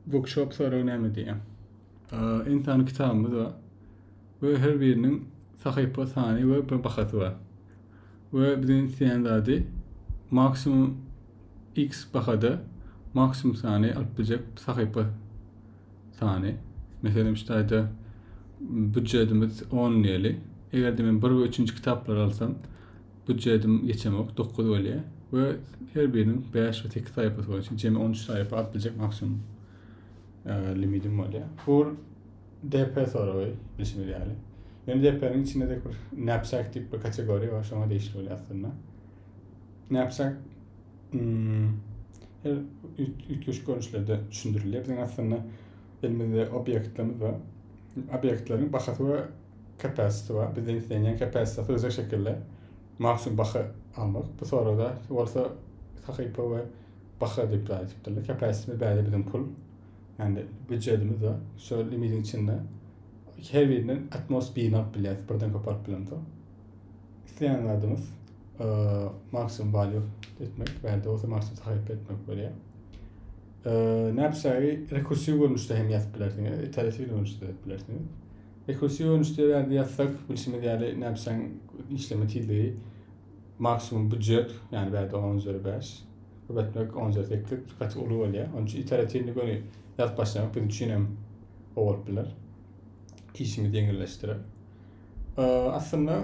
Bookshop soragy näme diýýär? Ensan kitabymyz bar we her biriniň sahypa sany we bir bahasy bar. We biziň isleýän zady maksimum X bahada maksimum sany alyp biljek sahypa sany. Meselem, şu taýda büdjetimiz 10 diýeli. Eger-de men 1 we 3-nji kitaplary alsam, Budjetim geçemok, dokuz bolýar we her biriniň bäş we sekiz saýpasy bolar. Şeýle jemi on üç saýpa alyp biljek maksimum e, limitim bolýar. Bu DP soragy bilşimiz ýaly. Ýöne DP-niň içinde de bir knapsack diýip bir kategoriýa bar, şoňa degişli bolýar aslynda. Knapsack hmm, her üýtgeşik görnüşlerde düşündirilýär. Biziň aslynda elimizde obýektlerimiz bar. Obýektleriň bahasy we Capacity bar. Bizden islenýän capacity syzjak şekilde maksimum baha almak. Bu sorada bolsa sahypa we baha diýip zat etipdirler. Capacity bäde biziň pul. Yani büdjetimiz bar. Şol limidiň içinde her birinden atmos birini alyp bilýäris. Birden köp alyp bilemso. Isleýän zadymyz e, maksimum value etmek, bäde bolsa maksimum sahypa etmek bolýar. E, Näpsägi rekursiw görnüşde hem ýazyp bilersiňiz, iterativ görnüşde ýazyp bilersiňiz. Ekosi görnüşde eger ýazsak, bilşimiz ýaly, näpjaň işleme tizligi maksimum býujet, ýagny bärde on üzeri bäş, bu etmek on üzeri sekiz gaty uly bolýar. Onuň üçin iteratiwny göni ýazyp başlamak biziň üçin hem gowy bolup biler. Işimizi ýeňilleşdirer. Aslynda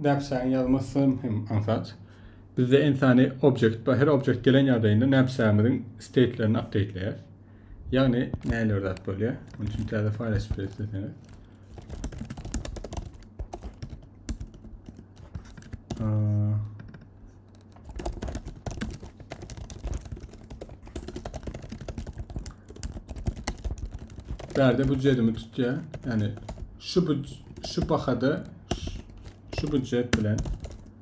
näpjaň ýazmasy hem aňsat. Bizde entäni objekt, her objekt gelen ýagdaýynda näpjaňymyzyň steýtlerini apdeýtleýär. Ýagny näler zat bolýar? Munuň üçin täze faýl açyp ber isleseňiz. Bärde büdjetimi tutýar. Ýagny şu şu bahada şu büdjet bilen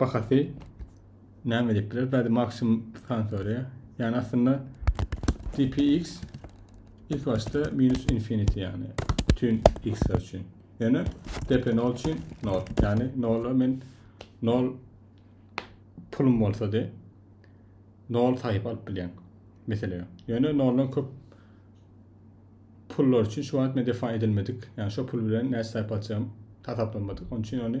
Bahasy näme diýipdiler? Bäde maksimum sany soraýar. Ýani aslynda GPX ilk başda minus infinity ýani bütün x üçin. Ýöne DP 0 üçin 0. Ýani 0 men 0 pulum bolsa de 0 saýyp alyp bilýän. Mesela. Ýöne 0 köp pullar üçin şu wagt men defa edilmedik. Ýani şu pul bilen näçe saýyp alacağım tasaplamadyk. Onun üçin ony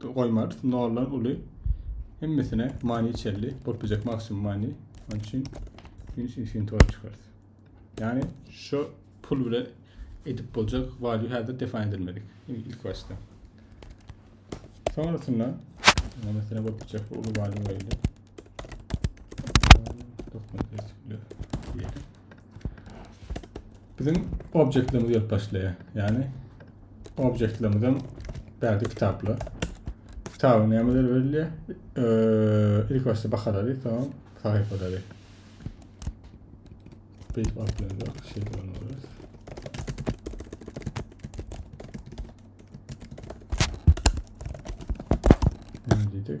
goýmarys. Noldan uly hemmesine many çelli. Bolup biljek maksimum many. Onun için minus infinity bolup çykarys. Yani şu pul bile edip bolacak value hazır define edilmedik. İlk başta. Sonrasında mesela bolup biljek bu uly value verildi. Dokuma Biziň objektlerimiz gelip başlaýar. Ýagny objektlerimizden bärde kitaplar. Kitabyň nämeler berilýär? Ee, ilk başda bakalary, soň sahypalary. Beýik atlarda şey bolmalydyr. Ne dedik?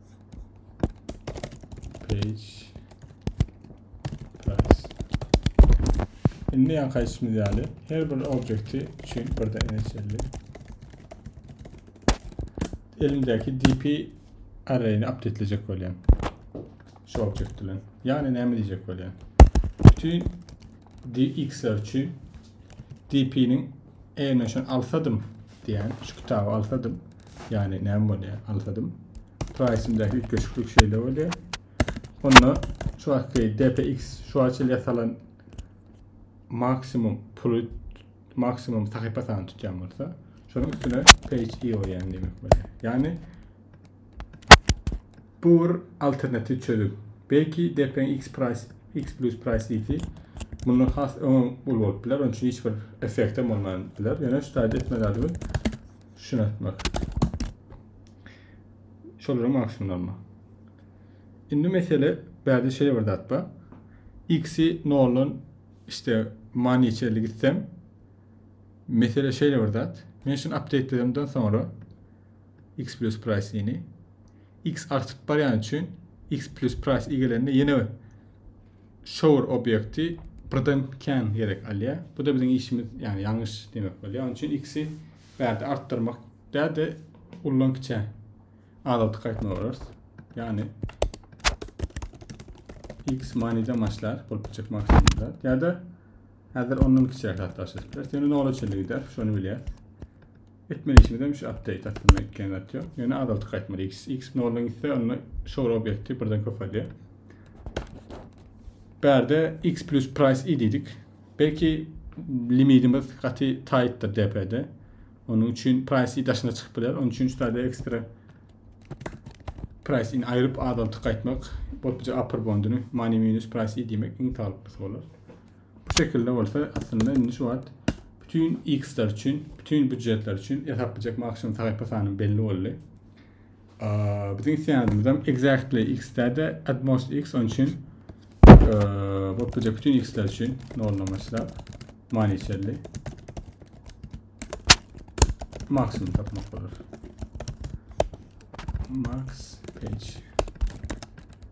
Page price. Indi ýa kaýsymyz ýaly her bir objekti üçin burada NHL'li elimdäki DP array'ini updatelejek bolýan. Şu objekt bilen. Ýagny näme diýjek bolýan? Bütün DX-ler üçin DP-niň Eger men şunu alsadym diýen, şu kitaby alsadym, ýagny näme bolýar? Alsadym. Price-indäki üýtgeşiklik şeýle bolýar. Onda şu wagtky DPX şu açyl ýasalan maksimum puly maksimum sahypa sany tutýan bolsa, şonuň üstüne page i goýýan diýmek bolýar. Ýagny Bu bir alternatiw çözüm. Belki depreň X price, X plus price diýsi mundan has öňem uly bolup biler, onuň üçin hiç bir effektem bolman biler. Ýöne şu taýda etme zadymy şuna etmek. Şolara maksimumlanma. Indi mesele bärde şeýle bir zat bar. X-i noldan işte many çelli gitsem mesele şeýle bir zat. Men şunu update edemden soňra X plus price-ini X artyp barýany üçin X plus price igelende ýene bir shower obýekti birden kän gerek alýar. Bu da biziň işimiz ýagny ýalňyş demek bolýar. Onuň üçin X-i bärde artdyrmak däde ullan kiçä azaltyk aýtmaly bolarys. Ýagny X manide maçlar bolup biljek maksimumda. Ýa-da häzir ondan kiçä hatlaşyp biler. Ýöne nol üçin gider, şony bilýär. Etmeli işimizem şu update aslynda etken zat yok. Ýöne azaltyp gaýtmaly. X, X noldan gitse onda show obyekti birden köpelýär. Bärde X plus price i diýdik. Belki limitimiz gaty tightdir DP-de. Onun üçin price i daşyna çykyp biler. Onun üçin şu taýda ekstra price in aýryp azaltyp gaýtmak, bolupja upper bonduny money minus price i diýmek iň salyklysı bolar. Bu şekilde bolsa aslynda indi şu wagt bütün X-ler üçin, bütün büdjetler üçin esaplajak maksimum sahypa sany belli boldy. Bizim isteýänimiz hem exactly X-de at most X onun için bolupdurjak bütün X-ler üçin noldan başlap many çelli maksimum tapmak bolar. Max page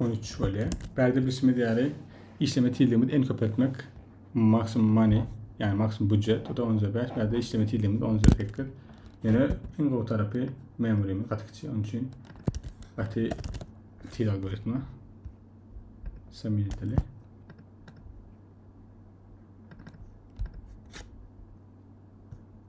On üç bolýar. Bärde bilşimiz ýaly işleme tizligimiz en köp etmek maksimum money yani maksimum budjet o da 10 5 bärde işleme tizligimiz 10 8 yani en gowy tarapy memurimiz gaty kiçi onun için gaty tiz algoritma samiliteli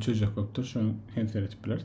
Çözjek bolup dur şoň hem seredip bileris.